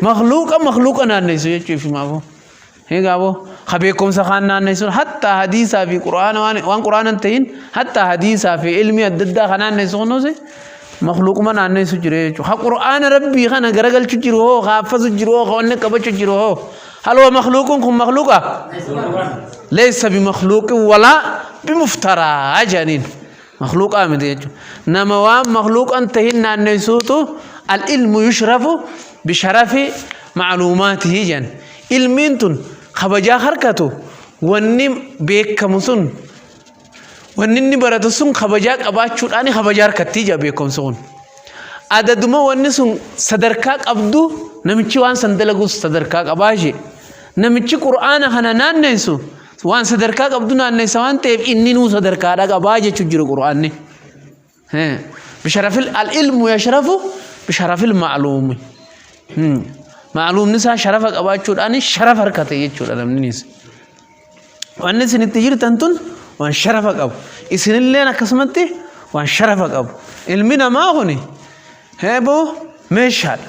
Makluuqa makluuqa naanneessu jechuuf himaafuu. Egaa boo ka beekumsa kaan naanneessuun hatta hadiisaa fi quraana waan waan quraana hin ta'in hatta hadiisaa fi ilmi adda addaa ka naanneessu kunuusi makluuquma naanneessu jira jechuudha. Ka quraana rabbii kana garagalchu jiru hoo ka haffazu jiru hoo ka wanni qabachu jiru hoo haloo makluuqun kun makluuqa leessa bi makluuqin walaa bi muftaraa jedhaniin. makluuqaa miti jechuudha. Nama waan makluuqan tahin naanneessuutu al-ilmu yushrafu bisharafi macluumaatihi jedhan. Ilmiin tun kabajaa harkatu wanni beekamu sun wanni inni baratu sun kabajaa qabaachuudhaan kabajaa harkattii jedha beekumsi kun. Adaduma wanni sun sadarkaa qabdu namichi waan san dalagus sadarkaa qabaa ishee. Namichi qur'aana kana naanneessu waan sadarkaa qabdu naanneessa waan ta'eef inni nuu sadarkaadha qabaa jechuu jiru qur'aanni bisharafil al ilmu yashrafu bisharafil ma'luumi ma'luumni isaa sharafa qabaachuudhaan sharafa harkate jechuudha namninis wanni isin itti jirtan tun waan sharafa qabu isinilleen akkasumatti waan sharafa qabu ilmi namaa kuni heeboo meeshaadha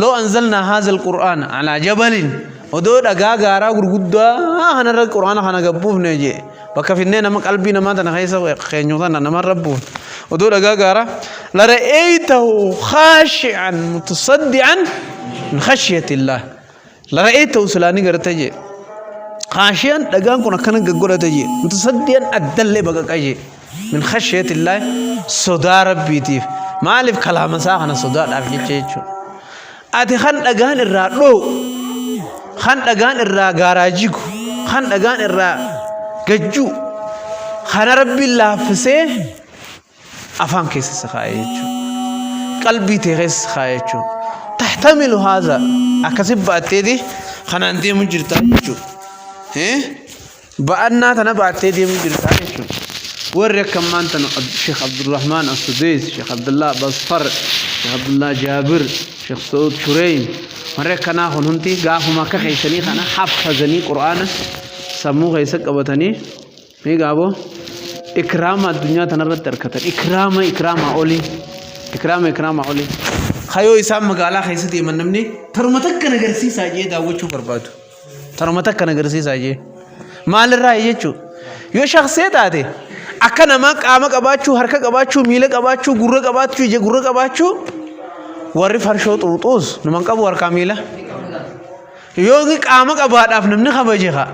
Loo anzalnaa haazal qur'aana alaa jabalin odoo dhagaa gaaraa gurguddaa kanarra qur'aana kana gabbuufne jee bakka finnee nama qalbii namaa tana keessa keenyu tana namarra buufne odoo dhagaa gaaraa lara'eeytahu khaashi'an mutasaddi'an min khashiyatillaah Lara'ee ta'u silaa ni garta jee. Kaashiyaan dhagaan kun akkana gaggodhata jee. Mutasaddiyan addallee baqaqa jee. Min khashiyatillaahi sodaa rabbiitiif. Maaliif kalaama isaa kana sodaadhaaf jecha jechuudha. Ati kan dhagaan irraa dhoo'u, kan dhagaan irraa gaaraa jigu, kan dhagaan irraa gajjuu, kana rabbiin laaffisee afaan keessa si kaa'e jechuudha. Qalbii tee keessa si kaa'e jechuudha. Tahtamilu haadha akkasi baatteeti kanaan deemu jirta jechuudha. Ba'annaa tana baattee deemu jirta jechuudha. Warri akka ammaan tana Sheekh Abdurrahmaan Asudees, Sheekh Abdullaa Basfar, Sheekh Abdullaa Jaabir, Sheekh Sa'ud Shureeyim warri akkanaa kun hundi gaafuma akka keessanii kana haffazanii quraana sammuu keessa qabatanii Mee gaaboo ikraama addunyaa tanarratti argatan ikraama ikraama olii ikraama ikraama olii. Kayoo isaan magaalaa keessa deeman namni taruma takka na garsiisaa jee daawwachuu barbaadu. Taruma takka na garsiisaa jee. Maalirraa jechuu yoo shaksee taate akka namaa qaama qabaachuu harka qabaachuu miila qabaachuu gurra qabaachuu ija gurra qabaachuu warri farshoo xuuxuus numan qabu harkaa miila. Yoo qaama qabaadhaaf namni kabaje kaa.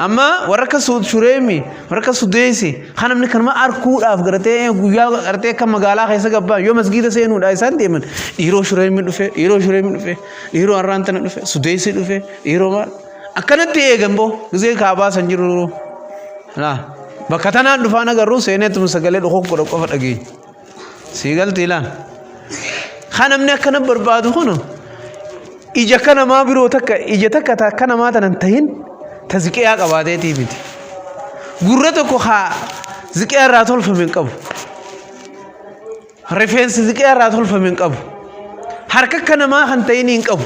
amma warra akka Su- shureemi warra akka sudeesi kan namni kanuma arkuudhaaf gartee guyyaa gartee akka magaalaa keessa gabbaan yoo masgiida seenuudha isaan deeman dhiiroo shureemi dhufe dhiiroo shureemi dhufe dhiiroo harraan tana dhufe sudeesi dhufe dhiiroo maal akkanatti eegan boo gisee kaabaa san jiru laa bakka tanaan dhufaan agarru seeneetuma sagalee dhokokko qofa dhageenya sii galtii laan ha namni akkana barbaadu kun ija akka namaa biroo takka ija takka ta akka namaa tanan tahin ta ziqiyaa qabaateetii miti gurra tokko ha ziqiyaa irraa tolfame hin qabu rifeensi ziqiyaa irraa tolfame hin qabu harka akka namaa kan tahin hin qabu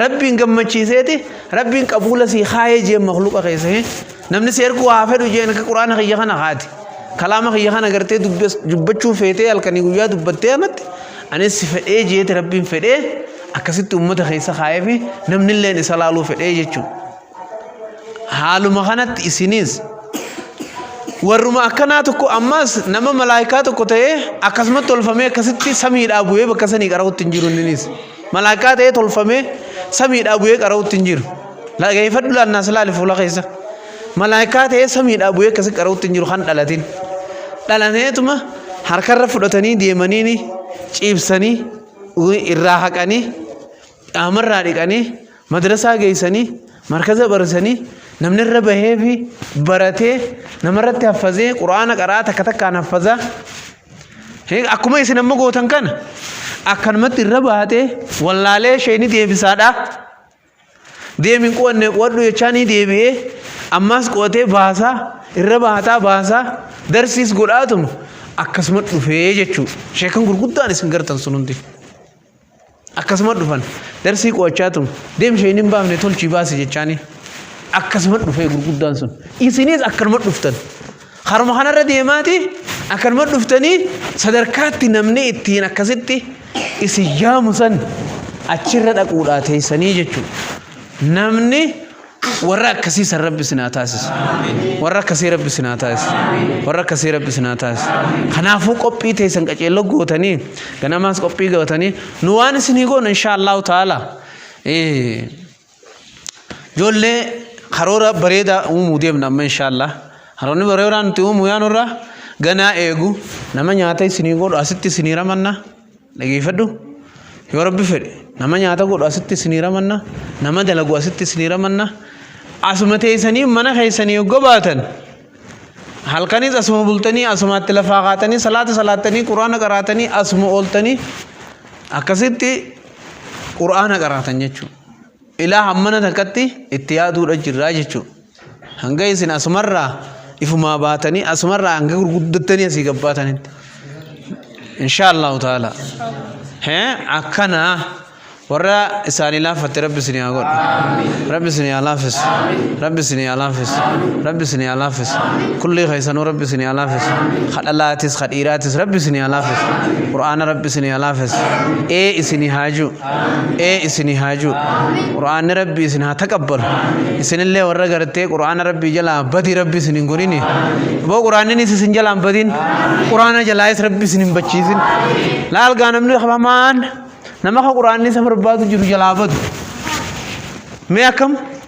Rabbiin gammachiiseeti rabbiin qabuula sii kaayee jeen makluqa keessa hee namni si erguu haa fedhu jeen akka quraana kiyya kana kaati kalaama kiyya kana gartee dubbachuu feetee halkanii guyyaa dubbattee anatti anis si fedhee jeeti rabbiin fedhee akkasitti ummata keessa kaayee fi namni illeen isa laaluu fedhee jechuudha. haaluma kanatti isiniis warruma akkanaa tokko ammas nama malaayikaa tokko ta'ee akkasumatti tolfamee akkasitti samiidhaa bu'ee bakka sanii qara'utti hin jiru inninis malaayikaa ta'ee tolfamee samiidhaa bu'ee qara'utti hin jiru lageeffadhu laannaa silaali fuula keessa malaayikaa ta'ee samiidhaa bu'ee akkasi qara'utti hin jiru kan dhalatin dhalaneetuma harkarra fudhatanii deemaniini ciibsanii irraa haqanii Dhaamarraa dhiqanii madrasaa geessanii markaza barsanii namni irra bahee fi baratee namarratti haffazee quraana qaraa takka takkaan haffazaa akkuma isin amma gootan kana akkanumatti irra baatee wallaalee ishee ni deebisaadha deemin qo'anne qo'adhu jechaa ni deebi'ee ammaas qo'atee baasaa irra baataa baasaa darsiis godhaatuma akkasuma dhufee jechuudha sheekan gurguddaan isin gartan sun hundi. Akkasuma dhufan darsii qo'achaa tun deem sheen hin baafne tolchii baasi jechaanii akkasuma dhufee gurguddaan sun isinis akkanuma dhuftan haruma kanarra deemaati akkanuma dhuftanii sadarkaatti namni ittiin akkasitti isin yaamu san achirra dhaquudhaa teessanii jechuudha namni warra akkasii san rabbi isin haa taasisu warra akkasii rabbi isin haa taasisu warra akkasii rabbi isin haa taasisu kanaafuu qophii teessan qaceelloo gootanii ganamaas qophii gootanii nu waan isinii goonu inshaa allahu taala ijoollee karoora bareedaa uumuu deemna amma inshaa allah karoonni bareedaa nuti uumuu yaanurraa ganaa eegu nama nyaata isinii godhu asitti isinii ramanna dhageeffadhu yoo rabbi fedhe nama nyaata godhu asitti isinii ramanna nama dalagu asitti isinii ramanna asuma teessanii mana keessanii yoo baatan halkanis asuma bultanii asumaatti lafaa kaatanii salaata salaattanii quraana qaraatanii asuma ooltanii akkasitti quraana qaraatan jechuudha. Ilaa hammana takkatti itti yaaduudha jirraa jechuudha. Hanga isin asumarraa ifumaa baatanii asumarraa hanga gurguddattanii asii gabbaatanitti. Inshaallahu ta'ala. Hee akkana warra isaanii laaffatte rabbi isin haa godhu. Rabbi isin haa laaffisu. Rabbi isin haa laaffisu. Rabbi isin haa laaffisu. Kulli keessanuu rabbi isin haa laaffisu. Kadhalaatis kadhiiraatis rabbi isin haa laaffisu. Qur'aana rabbi isin haa laaffisu. Ee isin haa jiru. ee isinii haa jiru qur'aanni rabbii isin haa taqabbalu isinillee warra gartee qur'aana rabbii jalaa badii rabbi isin hin godhini boo qur'aanninis isin jalaa hin badin qur'aana jalaayis rabbi isin hin bachiisin laalgaa namni hamaan nama ka qur'aanni isa barbaadu jiru jalaa badu mee akkam